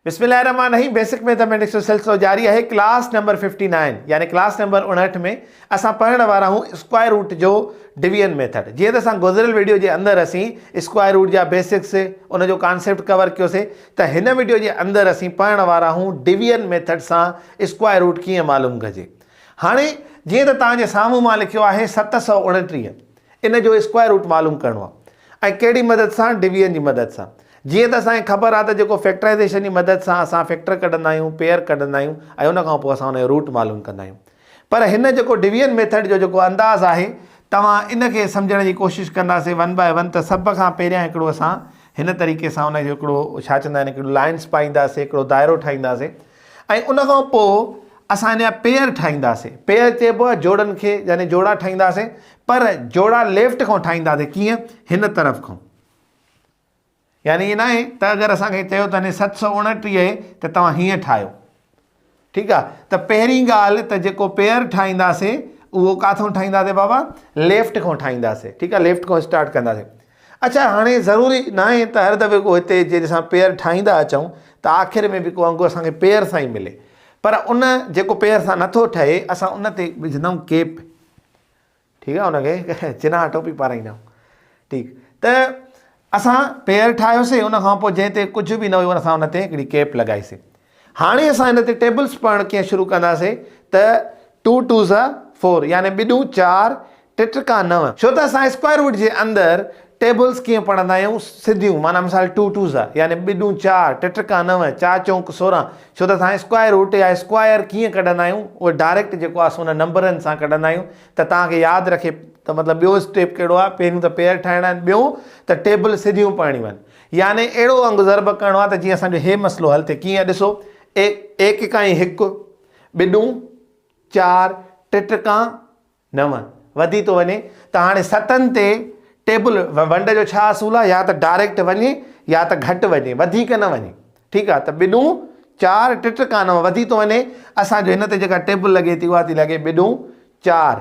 بسم الله الرحمٰن الرحيم بيسڪ ميٿاميٽڪس جو سلسلو جاري آهي ڪلاس نمبر ففٽي نائن يعني ڪلاس نمبر اڻهٺ ۾ اسان پڙهڻ وارا آهيون اسڪوائر روٽ جو ڊويزن ميٿڊ جيئن ته اسان گذريل ويڊيو جي اندر اسين اسڪوائر روٽ جا بيسڪس ان جو ڪانسيپٽ ڪور ڪيوسي ته هن ويڊيو جي اندر اسين پڙهڻ وارا آهيون ڊويزن ميٿڊ سان اسڪوائر روٽ ڪيئن معلوم ڪجي هاڻي جيئن ته توهان جي سامهون مان لکيو آهي ست سؤ اڻٽيهه ان جو اسڪوائر روٽ معلوم ڪرڻو آهي ۽ ڪهڙي مدد سان ڊويزن جي مدد سان جيئن ته اسان کي خبر آهي ته جيڪو فيڪٽرائيزيشن جي مدد سان اسان فيڪٽر ڪڍندا آهيون پيئر ڪڍندا آهيون ۽ ان کان پوء اسان ان جو روٽ معلوم ڪندا آهيون پر هن جيڪو ڊويزن ميٿڊ جو جيڪو انداز آهي توهان ان کي سمجهڻ جي ڪوشش ڪنداسين ون باء ون ته سڀ کان پهريان هڪڙو اسان هن طريقي سان ان جو هڪڙو ڇا چوندا آهن هڪڙو لائنس پائينداسين هڪڙو دائرو ٺاهينداسين ۽ ان کان پوء اسان ان جا پيئر ٺاهينداسين. پيئر چئبو آهي جوڙن کي يعني جوڙا ٺاهينداسين پر جوڙا ليفٽ کان ٺاهينداسين ڪيئن هن طرف کان يعني ائين ناهي ته اگر اسان کي چيو ته هن ست سؤ اڻٽيهه آهي ته توهان هيئن ٺاهيو ٺيڪ آهي ته پهرين ڳالهه ته جيڪو پيئر ٺاهينداسين اهو ڪاٿو ٺاهينداسين بابا ليفٽ کان ٺاهينداسين ٺيڪ آهي ليفٽ کان اسٽارٽ ڪنداسين اڇا هاڻي ضروري ناهي ته هر دفعي ڪو هتي جنهن سان پير ٺاهيندا اچون ته آخر ۾ به ڪو انگ اسان کي پير سان ئي ملي پر ان جيڪو پير سان نٿو ٺهي اسان ان تي وجهندائون ڪيپ ٺيڪ آهي ان کي چناء ٽوپي پارائيندائون ٺيڪ ته اسان پير ٺاهيوسي ان کان پوء جنهن تي ڪجهه به نه هيو اسان ان تي هڪڙي ڪيپ لڳائيسي هاڻي اسان هن تي ٽيبلز پڙهڻ ڪيئن شروع ڪنداسي ته ٽو ٽوز آر فور يعني ٻه ڏون چار ٽه ٽڪا نو. ڇو ته اسان اسڪوائر روٽ جي اندر ٽيبلز ڪيئن پڙهندا آهيون سڌيون معنيٰ مثال ٽو ٽوز آر يعني ٻه ڏون چار ٽه ٽڪا نو چار چونڪ سورهن ڇو ته اسان اسڪوائر روٽ يا اسڪوائر ڪيئن ڪڍندا آهيون اهو ڊائريڪٽ جيڪو آهي سو ان نمبرن سان ڪڍندا آهيون ته توهان کي ياد رکي ته مطلب ٻيو اسٽيپ ڪهڙو آهي پهريون ته پيئر ٺاهڻا آهن ٻيو ته ٽيبل سڌيون پڙهڻيون آهن. يعني اهڙو انگ ضرب ڪرڻو آهي ته جيئن اسان جو هي مسئلو حل ٿئي ڪيئن ڏسو اي ايڪڪائين هڪ ٻڏون چار ٽٽڪان نو وڌي ٿو وڃي ته هاڻي ستن تي ٽيبل ونڊ جو ڇا اصول آهي يا ته ڊائريڪٽ وڃي يا ته گهٽ وڃي وڌيڪ نه وڃي ٺيڪ آهي ته ٻڏون چار ٽٽڪان نو وڌي ٿو وڃي اسان جو هن تي جيڪا ٽيبل لڳي ٿي اها ٿي لڳي ٻڏون چار،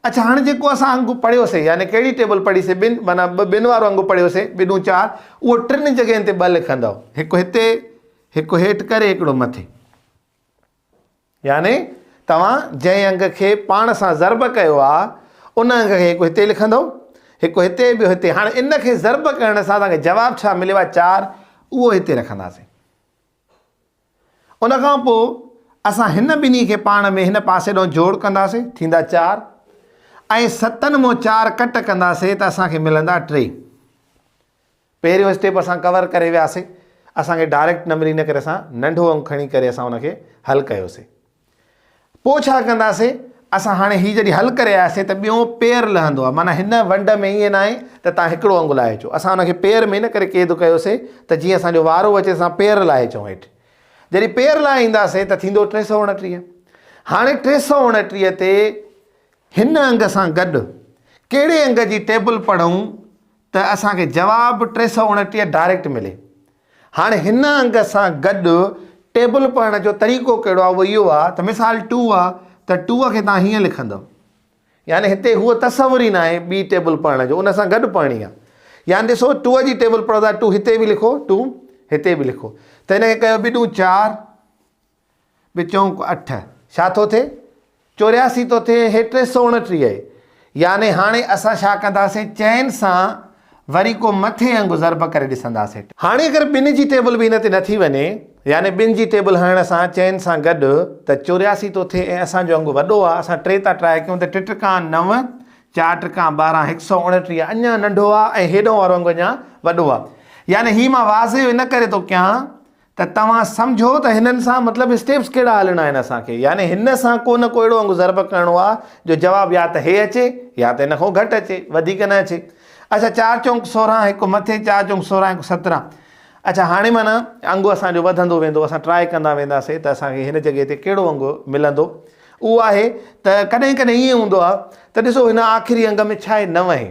اڇا هاڻي جيڪو اسان انگ پڙهيو سي يعني ڪهڙي ٽيبل پڙهي سي ٻن معنيٰ ٻه ٻن وارو انگ پڙهيو سي ٻه ڏون چار اهو ٽن جڳهين تي ٻه لکندؤ هڪ هتي هڪ هيٺ ڪري هڪڙو مٿي يعني توهان جنهن انگ کي پاڻ سان ضرب ڪيو آ ان انگ کي هڪ هتي لکندؤ هڪ هتي ٻيو هتي هاڻي ان کي ضرب ڪرڻ سان توهان کي جواب ڇا مليو آ چار اهو هتي رکنداسين ان کان پوء اسان هن ٻنهي کي پاڻ ۾ هن پاسي ڏانهن جوڙ ڪنداسين، ٿيندا چار، ۽ ستن مون چار ڪٽ ڪنداسين ته اسان کي ملندا ٽي. پهريون اسٽيپ اسان ڪور ڪري وياسين، اسان کي ڊائريڪٽ نمبر ان ڪري اسان ننڍو انگ کڻي ڪري اسان ان کي حل ڪيوسين. پوء ڇا ڪنداسين؟ اسان هاڻي هي جڏهن حل ڪري آياسين ته ٻيون پير لهندو آهي. معنيٰ هن ونڊ ۾ ائين ناهي ته توهان هڪڙو انگ لاهي اچو. اسان ان کي پير ۾ ان ڪري قيد ڪيوسين ته جيئن اسان جو وارو اچي ته اسان پير لاهي اچون هيٺ. جڏهن پير لاهي اينداسين ته ٿيندو ٽي سؤ اڻٽيهه. هاڻي ٽي سؤ اڻٽيهه تي هن انگ سان گڏ ڪهڙي انگ جي ٽيبل پڙهون ته اسان کي جواب ٽي سؤ اڻٽيهه ڊائريڪٽ ملي. هاڻي هن انگ سان گڏ ٽيبل پڙهڻ جو طريقو ڪهڙو آهي اهو اهو آهي ته مثال ٽو آهي ته ٽو کي توهان هيئن لکندو يعني هتي هو تصور ئي ناهي ٻي ٽيبل پڙهڻ جو ان سان گڏ پڙهڻي آهي يعني ڏسو ٽو جي ٽيبل پڙهو ٿا ٽو هتي به لکو ٽو هتي به لکو ته هن کي ڪيو ٻي ٽو چار به چونڪ اٺ. ڇا ٿو ٿئي؟ چورياسي ٿو ٿئي هي ٽي سؤ اڻٽيهه. يعني هاڻي اسان ڇا ڪنداسين؟ چئن سان وري ڪو مٿي انگ ضرب ڪري ڏسنداسين. ٽي. هاڻي اگر ٻن جي ٽيبل به ان تي نه ٿي وڃي، يعني ٻن جي ٽيبل هڻڻ سان چئن سان گڏ، ته چورياسي ٿو ٿئي ۽ اسان جو انگ وڏو آ. اسان ٽي ٿا ٽرائي ڪيون ته ٽي ٽرڪان نو، چار ٽرڪان ٻارهن، هڪ سؤ اڻٽيهه اڃا ننڍو آ ۽ هيڏهون وارو انگ اڃا وڏو آ. يعني هي مان واضح ان ڪري ٿو ڪيان ته توهان سمجهو ته هنن سان مطلب اسٽيپس ڪهڙا هلڻا آهن اسان کي يعني هن سان ڪو نه ڪو اهڙو انگ ضرب ڪرڻو آهي جو جواب يا ته هي اچي يا ته ان کان گهٽ اچي وڌيڪ نه اچي اڇا چار چونڪ سورهن هڪ مٿي چار چونڪ سورهن هڪ سترهن اڇا هاڻي معنيٰ انگ اسان جو وڌندو ويندو اسان ٽرائي ڪندا وينداسي ته اسان کي هن جڳهه تي ڪهڙو انگ ملندو اهو آهي ته ڪڏهن ڪڏهن ائين هوندو آهي ته ڏسو هن آخري انگ ۾ ڇا آهي نو اهي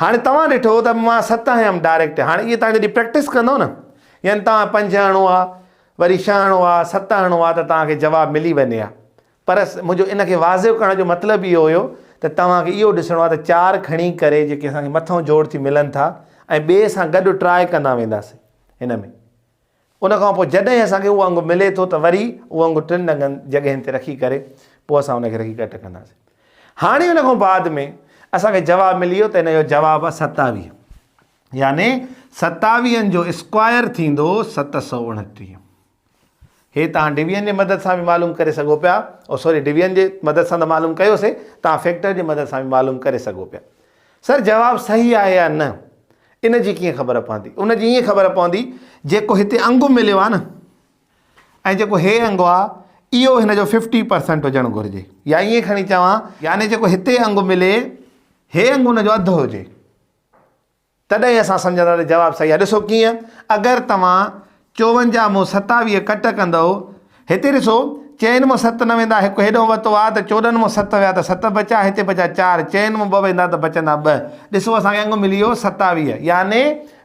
هاڻي توهان ڏٺو ته مان ست هيم ڊائريڪٽ هاڻي اهي توهان جڏهن پريڪٽس ڪندو نه يعني توهان پنج هڻو آ وري ڇهه هڻو آ ست هڻو آ ته توهان کي جواب ملي وڃي ها پر منهنجو ان کي واضح ڪرڻ جو مطلب اهو هيو ته توهان کي اهو ڏسڻو آ ته چار کڻي ڪري جيڪي اسان کي مٿئون جوڙ ٿي ملن ٿا ۽ ٻئي سان گڏ ٽراء ڪندا وينداسين هن ۾ ان کان پوء جڏهن اسان کي اهو انگ ملي ٿو ته وري اهو انگ ٽن ڏنگن جڳهين تي رکي ڪري پوء اسان ان کي رکي ڪري ٽڪنداسين. هاڻي ان کان بعد ۾ اسان کي جواب ملي ويو ته ان جو جواب آهي ستاويهه يعني ستاويهن جو اسڪوائر ٿيندو ست سؤ اڻٽيهه. هي توهان ڊويزن جي مدد سان به معلوم ڪري سگهو پيا او سوري ڊويزن جي مدد سان ته معلوم ڪيوسي توهان فيڪٽر جي مدد سان به معلوم ڪري سگهو پيا. سر جواب صحيح آهي يا نه ان جي ڪيئن خبر پوندي ان جي ائين خبر پوندي جيڪو هتي انگ مليو آهي نه ۽ جيڪو هي انگ آ اهو هن جو ففٽي پرسنٽ هجڻ گهرجي يا ائين کڻي چوان يعني جيڪو هتي انگ ملي هي انگ ان جو اڌ هجي تڏهن اسان سمجهندا ته جواب صحيح آهي ڏسو ڪيئن اگر توهان چون جا مون ستاويهه ڪٽ ڪندؤ. هتي ڏسو، چئن مان ست نه ويندا، هڪ هيڏانهن وتو آ ته چوڏهن مان ست ويا ته ست بچيا، هتي بچيا چار، چئن مان ٻه ويندا ته بچندا ٻه. ڏسو اسان کي انگ ملي ويو ستاويهه. يعني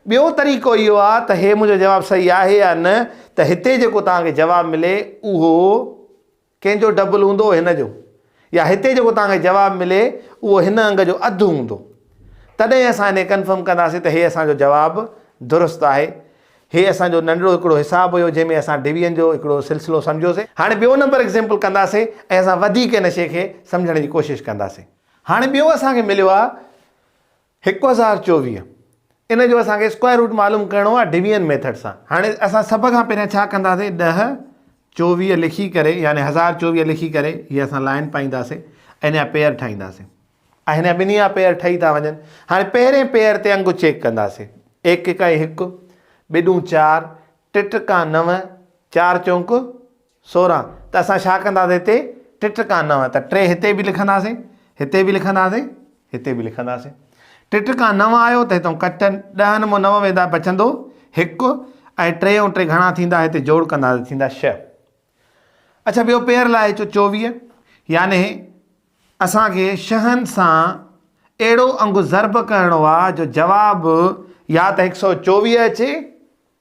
ٻيو طريقو اهو آ ته هي منهنجو جواب صحيح آهي يا نه ته هتي جيڪو توهان کي جواب ملي اهو. ڪنهن جو ڊبل هوندو هن جو؟ يا هتي جيڪو توهان کي جواب ملي اهو هن انگ جو اڌ هوندو؟ تڏهن اسان انهي ڪنفرم ڪنداسين ته هي اسان جو جواب درست آهي. هي اسان جو ننڍڙو هڪڙو حساب هيو جنهن ۾ اسان ڊويزن جو هڪڙو سلسلو سمجهيوسي. هاڻي ٻيو نمبر ايگزيمپل ڪنداسي ۽ اسان وڌيڪ ان شي کي سمجهڻ جي ڪوشش ڪنداسي. هاڻي ٻيو اسان کي مليو آهي هڪ هزار چوويهه ان جو اسان کي اسڪوائر روٽ معلوم ڪرڻو آهي ڊويزن ميٿڊ سان هاڻي اسان سڀ کان پهريان ڇا ڪنداسين ڏهه چوويهه لکي ڪري يعني يعني هزار چوويهه لکي ڪري هي اسان لائن پائينداسين ۽ هن پيئر ٺاهينداسين ۽ هن ٻنهي جا پيئر ٺهي ٿا وڃن هاڻي پهرين پيئر تي انگ چيڪ ڪنداسين ايڪ اڪائي هڪ ٻي ڏون چار ٽي ٽڪا نو چار چونڪ سورهن، ته اسان ڇا ڪنداسين هتي ٽٽ ڪا نوع ته ٽي هتي به لکنداسين، هتي به لکنداسين، هتي به لکنداسين. ٽٽ ڪا نوع آيو ته هتئون ڪٽ ڏهن مون نوع ويندا بچندو هڪ ۽ ٽي ۽ ٽي گهڻا ٿيندا هتي جوڙ ڪنداسين ٿيندا شهه. اڇا ٻيو پير لاء اچو چوويهه يعني اسان کي شهن سان اهڙو انگ ضرب ڪرڻو آ جو جواب يا ته هڪ سئو چوويهه اچي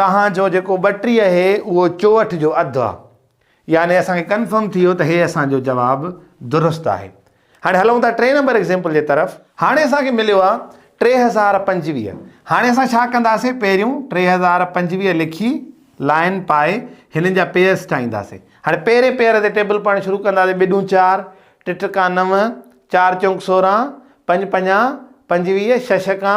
تهان جو جيڪو ٻٽيهه اهي اهو چوهٺ جو اڌ آ يعني اسان کي ڪنفرم ٿي ويو ته هي اسان جو جواب درست آهي هاڻي هلون ٿا ٽي نمبر ايگزيمپل جي طرف هاڻي اسان کي مليو آ ٽي هزار پنجويهه هاڻي اسان ڇا ڪنداسين پهريون ٽي هزار پنجويهه لکي لائن پائي هنن جا پيئرس ٺاهينداسين هاڻي پهرين پيئر تي ٽيبل پڙهڻ شروع ڪنداسين ٻي ڏون چار ٽي ٽڪا نو چار چونڪ سورهن پنج پنجا پنجويهه ڇهه ڇڪا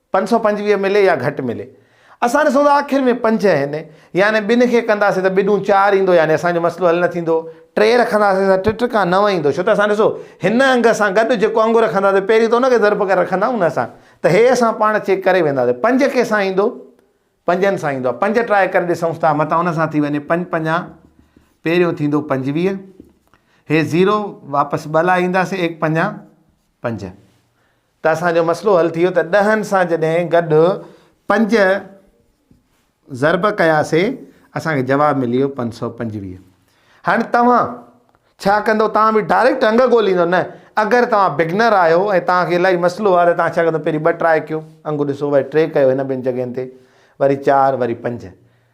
پنج سؤ پنجويهه ملي يا گهٽ ملي. اسان ڏسون ته آخر ۾ پنج آهن. يعني ٻن کي ڪنداسين ته ٻڏون چار ايندو يعني اسان جو مسئلو حل نه ٿيندو. ٽي رکنداسين ته ٽي ٽڪا نو ايندو. ڇو ته اسان ڏسو هن انگ سان گڏ جيڪو انگ رکنداسين پهرين ته ان کي ضرب ڪري رکندائون نه اسان. ته هي اسان پاڻ چيڪ ڪري وينداسين. پنج ڪنهن سان ايندو؟ پنجن سان ايندو. پنج ٽرائي ڪري ڏسون ٿا. متان ان سان ٿي وڃي. پنج پنجا پهريون ٿيندو پنجويهه. هي زيرو واپس ٻه لاء اينداسين ايڪ پنجا پنج. ته اسان جو مسئلو حل ٿي ويو ته ڏهن سان جڏهن گڏ پنج ضرب ڪياسي اسان کي جواب ملي ويو پنج سؤ پنجويهه هاڻي توهان ڇا ڪندو توهان به ڊائريڪٽ انگ ڳوليندو نه اگر توهان بگنر آهيو ۽ توهان کي الاهي مسئلو آهي ته توهان ڇا ڪندو پهرين ٻه ٽراء ڪيو انگ ڏسو وري ٽي ڪيو هن ٻن جڳهين تي وري چار وري پنج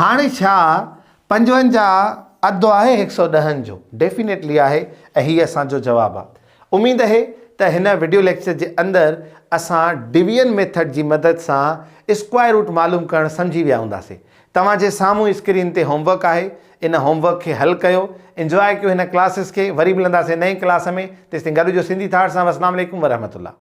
هاڻي ڇا پنجونجاهه اڌ آهي هڪ سئو ڏهن جو؟ ڊيفينيٽلي آهي ۽ هي اسان جو جواب آ. اميد اهي ته هن وڊيو ليڪچر جي اندر اسان ڊويزن ميٿڊ جي مدد سان اسڪوائر روٽ معلوم ڪرڻ سمجهي ويا هونداسي. توهان جي سامهون اسڪرين تي هوم ورڪ آهي ان هوم ورڪ کي حل ڪيو انجواء ڪيو هن ڪلاسز کي وري ملنداسي نئين ڪلاس ۾ تيستائين گڏ هجو سنڌي ٿاٽس سان والسلام عليڪم ورحمة الله.